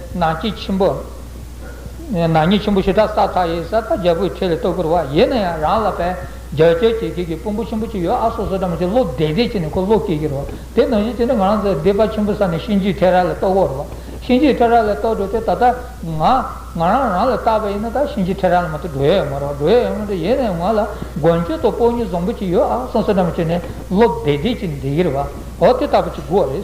S1: ནག་ཉེས་ཆེན་པོ། ནག་ཉེས་ཆེན་པོ་ཞེ་དྲག་སག་ཐག་ཡིན་ས་ད་རྒྱལ་པོའི་ཁྲི་ལ་ལྟོ་གོར་བ་ཡེ་ན་ཡང་རང་ལ་བན་རྒྱ་རྒྱལ་གྱི་གེགས་ཀྱི་དཔོན་པོ་ཆེན་པོ་གཅིག་ཡོད་ཨ་སོ་སོ་དྲ་མོ་ཆེ་བློ་བདེ་བདེ་བྱས་ནས་ཁོ་བློ་སྐྱེས་ཀྱི་རོ་དེ་ནང་བཞིན་དེ་ནས་ང་རང་ཚོ་སྡེ་པ་ཆེན་པོ་ས་ནས་གཤིན་རྗེའི་ཁྲི་རལ་ལ་ལྟོ་གོར་བ་གཤིན་རྗེའི་ཁྲི་རལ་ལ་ལྟོ་འགྲོ་དེ་ད་ལྟ་ང་ང་རང་རང་ལ་བལྟ་བ་ཡིན་ན་ད་གཤིན་རྗེའི་ཁྲི་རལ་ལ་མ་ལྟོ་འགྲོ་ཡས་མ་རོག་འགྲོ་ཡས་ཡོང་མ་འགྲོ་ཡེ་ན་ཡང་ང་ལ་མགོན་མཆོད་དང་སྤོ་ཉུལ་བཟང་པོ་གཅིག་ཡོད་ཨ་སོ་སོ་དྲ་མོ་ཆེ་ནས་བློ་བདེ་བདེ་བྱས་ནས་བསྡད་ཀྱི་རེད་བ་འོ་དེ་ལྟ་བུ་གཅིག་དགོས་རེད།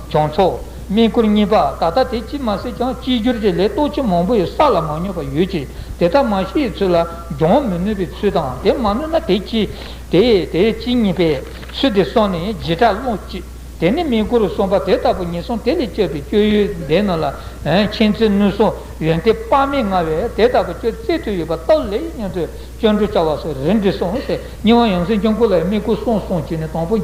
S1: བྱང་ཕྱོགས། སྨན་སྐུར་གཉིས་པ་ད་ལྟ་དེ་ཅིས་མ་སྲིད་ཀྱང་སྤྱི་སྒྱུར་གྱི་ལས་གཏོད་ཆེན་མང་པོ་ཡོད་ས་ལ་མ་སྨྱོས་པ་ཡོད་ཀྱི་དེ་དག་མ་ཤི་ཡི་ཚུལ་ལ་སྦྱོང་མི་ནུས་པའི་ཚུལ་དང་དེ་མ་ནུས་ན་དེ་ཅི། དེ་དེ་ཅི་གཉིས་པས་ཚུལ་དེ་སོང་ནས་བརྗེད་ཕྲ་བློ་གཅིག་དེ་ནི་སྨན་སྐུར་གསུམ་པ་དེ་ལྟ་བུ་ངེས་སོང་དེ་ལས་སྤྱོད་པའི་སྤྱོད་ཡུལ་ལྡན་རྣམས་ལ་མཁྱེན་བརྩེ་ནུས་སོ་ཡོན་ཏན་དཔག་མེད་མངའ་བས་དེ་ལྟ་བུ་སྤྱོད་བརྩེ་མཐུ་ཡོད་པ་རྟོགས་ལེགས་སྙམ་དུ་སྤྱོད་འགྲོ་བྱ་བ་སོགས་རེ་འདྲི་སོང་ཟེར་སྙིང་དབང་ཡོངས་སེམས་སྐྱོང་སྐུ་ལ་སྨན་སྐུར་གསུམ་སོང་བྱས་ནས་དང་པོ།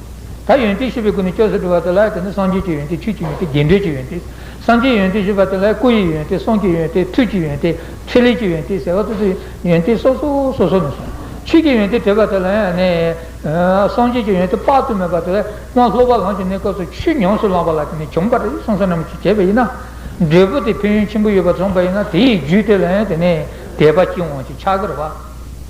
S1: ད་ཡོན་ཏན་ཤེས་པའི་སྒོ་ནས་སྐྱོ་ཟེར་བྲི་བ་དེ་ལ་དེ་ནི་སངས་རྒྱས་ཀྱི་ཡོན་ཏན་ཆོས་ཀྱི་ཡོན་ཏན་རྒྱས་འགྲོས་ཀྱི་ཡོན་ཏན། སངས་རྒྱས་ཡོན་ཏན་ཞེས་པ་དེ་ལ་སྐུ་ཡི་ཡོན་ཏན་གསུང་གི་ཡོན་ཏན་ཐུགས་ཀྱི་ཡོན་ཏན་ཁེ་ལས་ཀྱི་ཡོན་ཏན་ཟེར་བ་སོ་སོའི་ཡོན་ཏན་སོ་སོ་སོ་སོ་ནས་སོང་ཆོས་ཀྱི་ཡོན་ཏན་བྲི་བ་དེ་ལ་ཡང་ནི། སངས་རྒྱས་ཀྱི་ཡོན་ཏན་དཔག་ཏུ་མེད་པ་དེ་ལ་སློབ་པ་ལམ་གྱི་གནས་སྐབས་སུ་ཆོས་ཉམས་སུ་བླངས་པ་ལ་དེ་ནི་བྱུང་བར་གསུངས་བསོད་ནམས་ཀྱིས་བྱས་པ་ཡིན་ན། འབྲས་བུ་དེ་ཕན་ཡོན་ཆེན་པོ་ཡོད་པར་བྱུང་བ་ཡིན་ན་དེའི་རྒྱུས་དེ་ལ་ཡང་དེ་ནི་དད་པ་སྐྱེ་འོང་ཞིང་ཕྱག་རྒྱར་བ།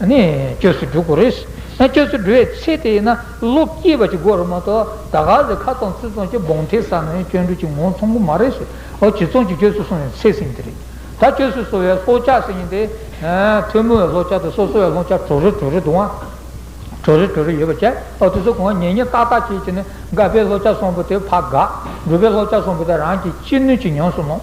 S1: སྐྱོ་སུ་འགྲོ་དགོས་རེད། སྐྱོ་སུ་འགྲོ་བའི་ཚེ་དེ་ན་བློ་སྐྱེས་པ་གཅིག་དགོས་རེད་མ་གཏོགས་ད་ག་ཟེ་ཁ་ཙོང་ཚིག་ཙོང་གཅིག་སྦོང་ཐེལ་ས་ནས་སྐྱོན་འགྲོ་གཅིག་ངོ་མཚུངས་པོ་མ་རེད། བྱེ་ཙོང་གཅིག་སྐྱོ་སུ་སོང་བའི་ཚེ་ཟིན་གྱི་རེད། ད་སྐྱོ་སུ་སོང་བའི་ལྷོག་ཆ་ཟིན་ཡིན་ཏེ། ཐུན་མོང་བའི་ལྷོག་ཆ་དང་སོ་སོ་བའི་ལྷོག་ཆ་གྲོ་རེ་གྲོ་རེ་འདུག་ཨང། གྲོ་རེ་གྲོ་རེ་ཡོད་པ་བཅས་ཨོ་དེ་ཚོ་གང་ཉེ་ཉེ་ཏག་ཏག་བྱས་བྱས་ནས་དགའ་པའི་ལྷོག་ཆ་སོང་པོ་དེ་ཕ་དགའ། འགྲོ་པའི་ལྷོག་ཆ་སོང་པོ་དེ་རང་གིས་ཅི་ནུས་ཅི་མྱོང་སུ་མྱོང།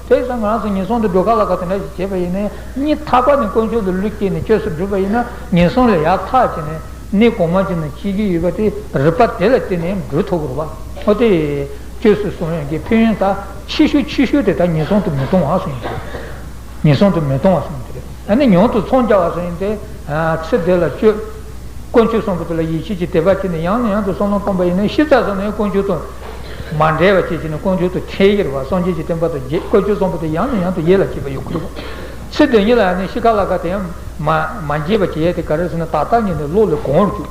S1: དེས་ན་ང་ཚོས་ངན་སོང་དུ་འགྲོ་ག་ལ་ག་དེ་འདྲ་ཞིག་བྱེད་པ་ཡིན་ནའི། གཉིད་ཐག་པ་ནས་དཀོན་མཆོག་ཏུ་ལུས་སྐྱེས་ནས་བཅོས་སུ་བསྒྲུབས་པ་ཡིན་ན་ངན་སོང་ལས་ཡར་ཐག་བྱས་ནས་གནས་གོང་མ་ཅན་དུ་ཤེས་ཀྱི་ཡོད་པ་དེ་རིག་པ་དེ་ལ་བརྟེན་ནས་འགྲོས་ཐུ་བུར་བ་ཐོག་དེ་བཅོས་སུ་སོང་ཡང་གི་ཕན་ཡོན་དག་ཕྱི་ཤུ་ཕྱི་ཤུ་དེ་དག་ངན་སོང་དུ་མི་གཏོང་བ་སོང་ཡིན་ཏེ། ངན་སོང་དུ་མི་གཏོང་བ་སོང་ཡིན་ཏེ། ད་ནི་ཉུང་དུ་འཚོང་རྒྱ་བ་སོང་ཡིན་ཏེ། ཚེ་འདི་ལ་སྤྱོད། དཀོན་མཆོག་གསུམ་པོ་དེ་ལ་ཡིད་ཆེས་ཀྱིས་དད་པ་བྱས་ནས་ཡང་ནས་ཡང་དུ་སྲོག་ལམ་སྤངས་པ་ཡིན་ནའི་ཤི་ཚར་སོང་ནས་དཀོན་མཆོག་ཏུ། མ་འདྲེས་པ་བཅས་བྱས་ནས་དཀོན་མཆོག་ཏུ་ཁྲེལ་ཡོད་པ་སངས་རྒྱས་ཀྱི་བསྟན་པ་དང་བརྒྱད་བཀོལ་སྤྱོད་གསུམ་པོ་དེ་ཡང་ནས་ཡང་དུ་ཡིད་ལ་བྱེད་པ་ཡོད་ཁུལ་དགོས། ཚེ་འདི་ཉིད་ལ་ནི་ཤི་ཁ་ལ་ཁ་དེ་ཡང་མ་བརྗེད་པར་བྱས་ཏེ་ག་རེ་ཟེར་ན་ད་ལྟ་ཉིད་ནས་བློ་ལས་གོང་བར་བཅུག།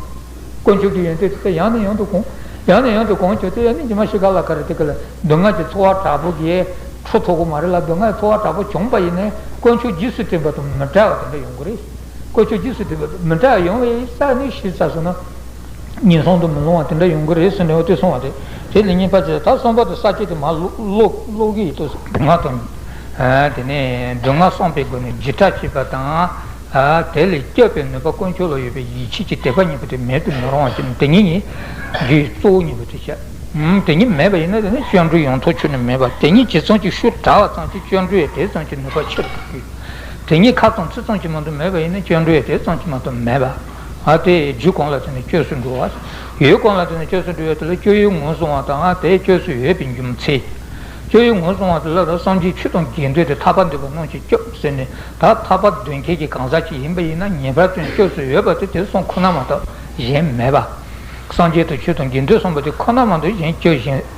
S1: དཀོན་མཆོག་གི་ཡོན་ཏན་དེ་དག་ཡང་ནས་ཡང་དུ་གོང། ཡང་ནས་ཡང་དུ་གོང་བྱས་ཚེ་ཡང་ནས་ཀྱི་མ་ཤི་ཁ་ལ་ཁ་རེ་དེ་ག་ལ་སྡུག་བསྔལ་གྱི་འཚོ་བ་དྲག་པོ་གས་འཕྲོ་ཚོགས་པོ་མ་རེད་ལ་སྡུག་བསྔལ་གྱི་འཚོ་བ་དྲག་པོ་བྱུང་བ་ཡིན་ནས་དཀོན་མཆོག་རྗེས་སུ་དྲན་པ་དང་མི་འདྲ་བ་དེ་འདྲ་ཡོང་གི་རེད། བཀོལ་སྤྱོད་རྗེས་སུ་དེ་བས་མི་འདྲ་བ་ཡོང་བས་ས་གནས་གཞི་རྩ་སོ་ན་ཉེན་སྲུང་དུ་མི་ལྷུང་བ་དེ་འདྲ་ཡོང་གི་རེད་ཟེར་ནས་འོ་དོད་སོང་བ་རེད། དེ་ལས་ཉེན་པ་ཆེ་ད་གསུམ་པ་དང་ས་སྤྱོད་དེ་མ་ཀློག་གི་ཡོད་དོ། ང་དང། དེ་ནས་སྡུག་བསྔལ་སངས་པའི་སྒོ་ནས་བརྗེད་ཕྲ་བྱེད་པ་དང། དེ་ལས་སྐྱོབ་པའི་ནུས་པ་དཀོན་མཆོག་ལ་ཡོད་པས་ཡིད་ཆེས་ཀྱི་དད་པ་གཉིས་པོ་དེ་མེད་དུ་མི་རུང་བ་བྱེད་ནི་དེ་གཉིས་ནི་རྒྱུའི་གཙོ་བོ་གཉིས་པོ་དེ་བྱ། དེ་གཉིས་མེད་པ་ཡིན་ན་དེ་ནི་སྤྱོད་འགྲོས་ཡོངས་རྫོགས་ཆོད་ནས་མེད་པ་དེ་གཉིས་ཇི་ཙམ་གྱིས་ཤུགས་དྲག་བ་ཙམ་གྱིས་སྤྱོད་འགྲོས་དེ་ཙམ་གྱི་ནུས་པ་ཆེ་རུ་འགྲོ་གི་ཡོད། དེ་གཉིས་ཁ་ཙོང་ཚིག་ཙོང་གྱི་མ་དུ་མེད་པ་ཡིན་ན་ཅོ་འདྲུའི་དེ་ཙོང་གི་མ་དུ་མེད་པ། དེ་རྒྱུ་གང་ལ་ཐོན་ནས་སྐྱོས་སུ་འགྲོ་བ། ཡུལ་གང་ལ་ཐོན་ནས་སྐྱོས་སུ་འགྲོ་བའི་དེ་ལ་སྐྱོ་ཡུལ་ངོས་བཟུང་བ་དང་དེ་སྐྱོས་སུ་ཡོད་པའི་རྒྱུ་མཚན། སྐྱོ་ཡུལ་ངོས་བཟུང་བ་དེ་ལ་རོ་སངས་རྒྱས་ཆུ་དང་རྒྱན་སྟོན་ཏེ་ཐར་པ་འདོད་པ་རྣམས་ཀྱིས་སྐྱོབས་ཟེར་ནས་ད་ཐར་པ་འདོད་མཁན་གྱི་གང་ཟག་ཅིག་ཡིན་པ་ཡིན་ན་ངེས་པར་དོན་སྐྱོས་སུ་ཡོད་པ་དེ་དེ་གསུམ་ཁོ་ན་མ་གཏོགས་གཞན་མེད་པ། སངས་རྒྱས་དང་ཆུ་དང་རྒྱན་སྟོན་གསུངས་པ་དེ་ཁོ་ན་མ་གཏོགས་གཞན་སྐྱོ་གཞན།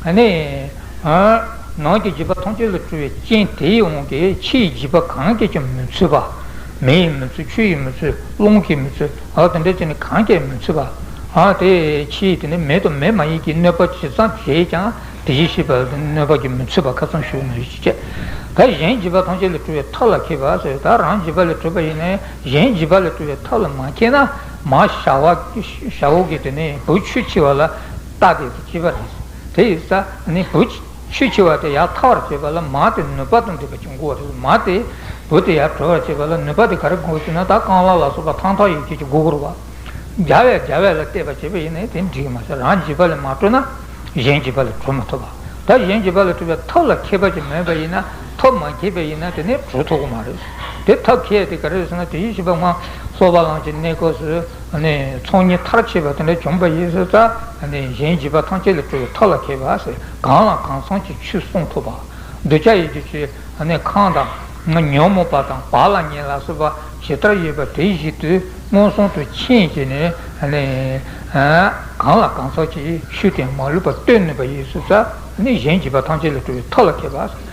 S1: ཨ་ནི། ནང་གི་བྱིས་པ་མཐོང་ཆོས་ལ་སྤྲུལ་བའི་སྤྱན་དེ་ཡིས་འོང་གི་ཕྱི་ཡི་བྱིས་པ་གང་གིས་ཀྱང་མི་ཚུད་པ། མེ་ཡིས་མི་ཚུད་ཆུ་ཡིས་མི་ཚུད་རླུང་གིས་མི་ཚུད་དེ་འདྲའི་ཚུལ་ནི་གང་གིས་མི་ཚུད་པ། དེ་ཕྱིའི་དེ་ནི་མེ་དང་མེ་མ་ཡིན་གྱི་གནོད་པ་ཇི་ཙམ་བྱེད་ཀྱང་དེ་བཞིན་གཤེགས་པ་ལ་དེ་གནོད་པ་གྱིས་མི་ཚུད་པ་ཁ་ཚོན་ཞུགས་ན་རིག་ཅེས་བྱ། ད་གཞན་བྱིས་པ་མཐོང་ཆོས་ལ་སྤྲུལ་བའི་མཐའ་ལ་ཁེལ་བ་སོགས་ད་རང་བྱིས་པ་ལས་གྲུབ་པ་ཡིན་ནས་གཞན་བྱིས་པ་ལ་སྤྲུལ་བའི་མཐའ་ལ་མ་ཁེལ་ན། མ་བྱ་བ་གིས་དེ་ནི་བུ་ཆུ་འཆི་བ་ལ། རྟགས་དེ་ཚོ་ཅི་བ་རེད། དེ་ཡིག་ས་ནི་བུ། ཆུ་ཆེ་བ་དེ་ཡར་ཐར་བར་བྱེད་པ་ལ་མ་དེ་ནུས་པ་དང་འདྲེས་པ་ཅུང་འགོ་བ་རེད། མ་དེ་བུ་དེ་ཡར་གྲོལ་བར་བྱེད་པ་ལ་ནུས་པ་དེ་ག་རེ་འགོ་ཞེ་ན་ད་རྐང་ལག་ལ་སོགས་པ་ཐང་ཐང་ཡོད་ཁྱེད་ཀྱི་མགོ་སྒུར་བ། རྒྱ་བས་རྒྱ་བས་ལ་བལྟས་པ་བྱེད་པ་ཡིན་ནའི་དེ་འགྲིག་མ་བྱ་རང་བྱིས་པ་ལས་མ་གྲོལ་ན་གཞན་བྱིས་པ་ལས་གྲོལ་མ་ཐུབ་པ། ད་གཞན་བྱིས་པ་ལས་གྲོལ་བའི་ཐབས་ལ་མཁས་པ་ཅིག་མེད་པ་ཡིན་ན་ཐབས་མ་མཁས་པས་ཡིན་ན་དེ་ནི་གྲོལ་ཐུབ་ཀྱི་མ་རེད། དེ་ཐབས་མཁས་དེ་ག་རེ་ཟེར་ན་དེ་བཞིན་བྱིས་པ་སྔ་སོར་བ་ལང་ཕྱིར་གནས་སྐབས་སུ། ཚོགས་གཉིས་མཐར་ཕྱིན་པ་དེ་འདྲ་བྱུང་བ་ཡིན་ཟེར་ཙང་གཞན་བྱིས་པ་ཐམས་ཅད་ལ་སྤྲོ་བའི་ཐབས་ལ་མཁས་པ་ཞིག་གང་ལ་གང་འཚམ་གྱི་ཆོས་གསུང་ཐུབ་པ། གདུལ་བྱ་ཡི་གེ་ཆོས་གང་དང། ཉོན་མོངས་པ་དང་བག་ལ་ཉལ་ལ་སོགས་པ་ཇི་ལྟར་ཡོད་པ་དེ་བཞིན་དུ་མངོན་སུམ་དུ་མཁྱེན་ཅིང་ནི། གང་ལ་གང་འཚམ་གྱིས་ཤུགས་དེ་མ་ལུས་པར་སྟོན་ནུས་པ་ཡིན་ཟེར་ཙང་གཞན་བྱིས་པ་ཐམས་ཅད་ལ་སྤྲོ་བའི་ཐབས་ལ་མཁས་པ།